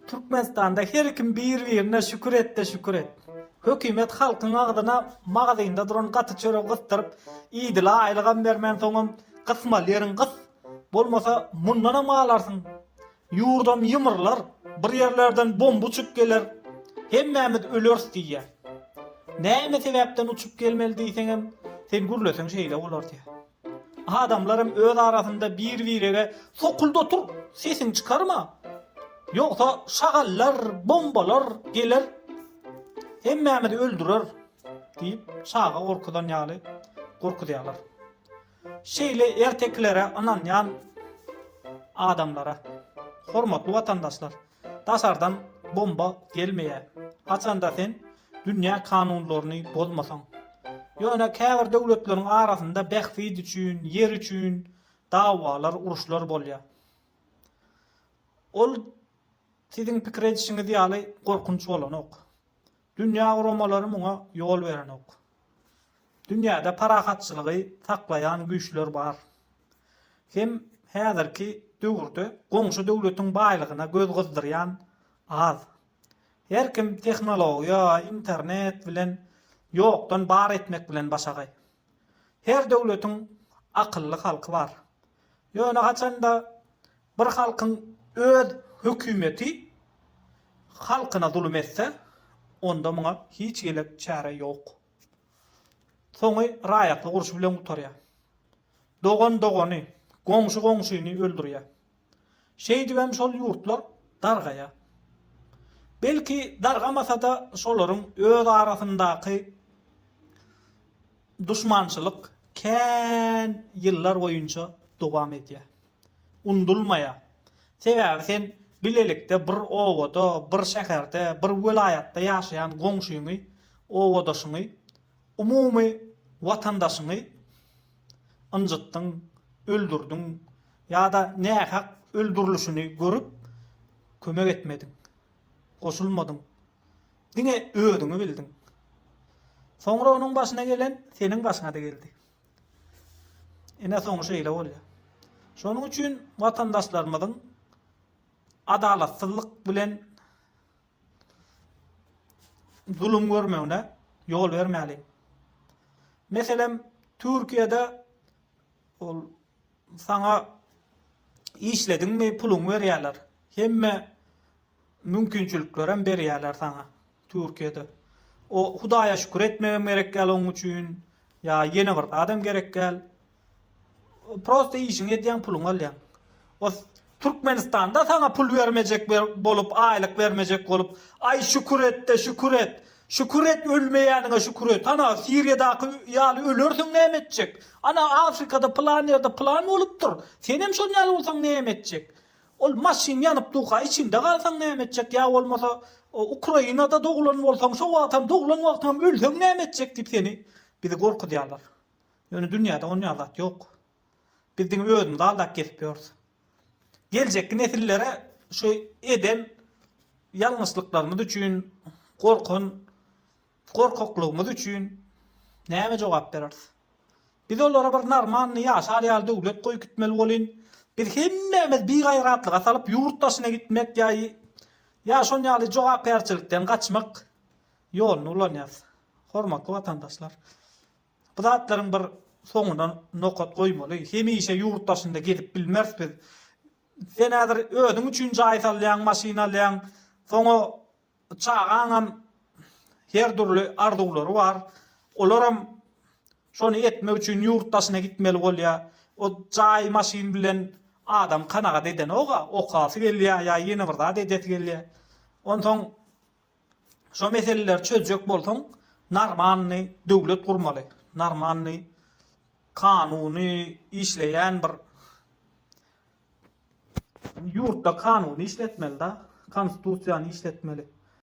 Türkmenistanda her kim bir birine şükür etde şükür et. Hökümet halkyň agzyna magazynda duran gaty çöregi gysdyryp idila aýlygam bermän soňam gysmaly ýeriň gys bolmasa mundanam alarsyň ýurdam ýymrylar bir ýerlerden bomba uçup geler hemmämiz öleris diýýä näme sebäpden uçup gelmeli diýseňem sen gürleseň şeýle bolar diýýä. Adamlaram öz arasynda bir-birege Sokulda tur, sesiňi çykarma! Ýogsa şagallar, bombalar geler, hemmämizi öldürer! diýip, çaga gorkuzan ýaly gorkuzýarlar. Şeýle ertekilere ynanýan adamlara, hormatly watandaşlar! Daşardan bomba gelmeýär. Haçanda sen dünýä kanunlaryny bozmasaň. Ýöne käbir döwletleriň arasynda bähbit üçin, ýer üçin dawalar, uruşlar bolýar. Ol siziň pikir edişiňiz ýaly gorkunç bolanok. Dünýä guramalary muňa ýol berenok. Dünýäde parahatçylygy saklaýan güýçler bar. Hem häzirki döwürde goňşy döwletiň baýlygyna göz gyzdyrýan az. Her kim tehnologiýa, internet bilen ýokdan bar etmek bilen başagaý. Her döwletiň akylly halky bar. Ýöne haçanda bir halkyň öz hökümeti halkyna zulum etse, onda muňa hiç elek çäre ýok. Soňy raýatlyk urşy bilen gutarýar. Dogan dogany, goňşy goňşyny öldürýär. Şeýdibem şol ýurtlar dargaýar. Belki dargamasa-da şolaryň öz arasyndaky duşmançylyk kän ýyllar boýunça dowam edýär. Unudylmaýar. Sebäbi sen bilelikde bir obada, bir şäherde, bir welaýatda ýaşaýan goňşyňy, obadaşyňy, umumy watandaşyňy, ynjytdyň, öldürdiň ýa-da nähak öldürilişini görüp, kömek etmediň, goşulmadyň. Diňe özüňi bildiň. Soňra onuň başyna gelen seniň başyňa-da geldi. Ine, soňy şeýle bolýar. Şonuň üçin watandaşlarymyzyň adalatsyzlyk bilen zulum görmegine ýol bermäli. Meselem, Türkiýede ol saňa işlediňmi puluňy berýärler. Hemme mümkinçiliklerem berýärler saňa Türkiýede. O Hudaýa şükür etmegem gerek däl oň üçin. Ýa ýene bir zadam gerek däl. Prosta işiňi edýäň puluňy alýaň. O Türkmenistanda saňa pul bermejek bolup aýlyk bermejek bolup aý şükür etde şükür et. Şükür et ölmeýäniňe şükür et. Ana Siriýadaky ýaly ölersiň näme etjek. Ana Afrikada pylan ýerde pylan bolupdyr. Senem şol ýaly bolsaň näme etjek. Ol maşyn ýanyp durka içinde galsaň näme etjek ýa bolmasa Ukrainada doglan bolsaň şo wagtam doglan wagtyňam ölseň näme etjek diýip seni bizi gorkuzýarlar. Ýöne dünýäde on ýaly zat ýok. Biz diňe özümizi aldap gezip ýörüs. Geljekki nesillere şu eden ýalňyşlyklarymyz üçin, gorkan gorkaklygymyz üçin näme jogap bereris? Biz olara bir normalny ýaşar ýaly döwlet goýup gitmeli welin, biz hemmämiz bigaýratlyga salyp ýurt daşyna gitmek ýa ýa şon ýaly jogapkärçilikden gaçmak ýoluny ulanýarys. Hormatly watandaşlar! Bu zatlaryň bir soňuna nokat goýmaly. Hemişe ýurt daşynda gezip bilmeris biz. Sen häzir özüň üçin jaý salýaň, maşyn alýaň. Soňa çagaňam her dürli arzuwlary bar. Olaram şony etmek üçin ýurt daşyna gitmeli bolýar. O jaý, maşyn bilen adam kanagat edenok-a, okasy gelýär ýa ýene bir zat edesi gelýär. Onsoň Şo meseleleri çözjek bolsaň narmanny döwlet gurmaly, narmanny kanuny işleýän bir ýurtda kanuny işletmeli da, konstitusiýany işletmeli.